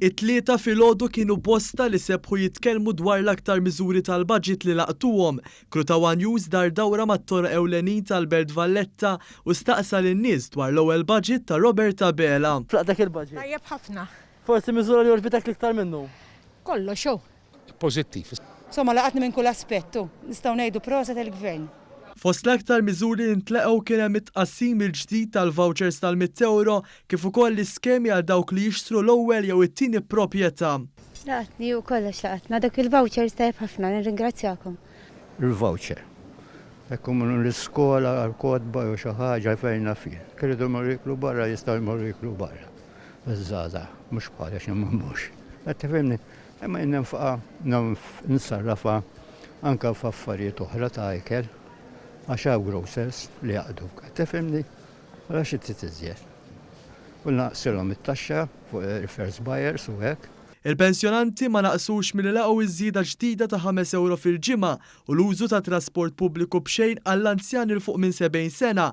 It-Tlieta filgħodu kienu bosta li sebħu jitkellmu dwar l-aktar miżuri tal-Budget li laqtuhom. Krutaw One News dar dawra mat-toroq ewlenin tal-Belt Valletta u staqsa lin-nies dwar l-ewwel Budget ta' Robert Abela. X'raqt dak il-Budget? Tajjeb ħafna. Forsi miżura li għoġbitek l-iktar minnu? Kollox hu. pożittiv. Insomma laqatni minn kull aspett u, nistgħu ngħidu proset il-Gvern. Fost l-aktar miżuri li ntlaqgħu kien hemm it-tqassim mill-ġdid tal-vouchers tal-mitt ewro kif ukoll l-iskemi għal dawk li jixtru l-ewwel jew it-tieni proprjetà. Laqatni u kollox laqatna. Dawk il-vouchers tajjeb ħafna, nirringrazzjakom. Il-voucher. Jekk imorru l-iskola għal kotba jew xi ħaġa fejn naf jien. Jekk iridu jmorru jieklu barra jistgħu jmorru jieklu barra. Iż-żgħażagħ, mhux bħalissa x'imma mhux. Qed tifhimni? Imma jien ninfqha, nsarrafha anke f'affarijiet oħra ta' ikel għax hawn grocers li jaqdu, qed tifhimni? Allura xi trid iżjed? U naqsilhom it-taxxa fuq refers buyers u hekk. Il-pensjonanti ma naqsux milli laqgħu ż-żieda ġdida ta' ħames ewro fil-ġimgħa u l-użu tat-trasport pubbliku b'xejn għall-anzjani 'l fuq minn 70 sena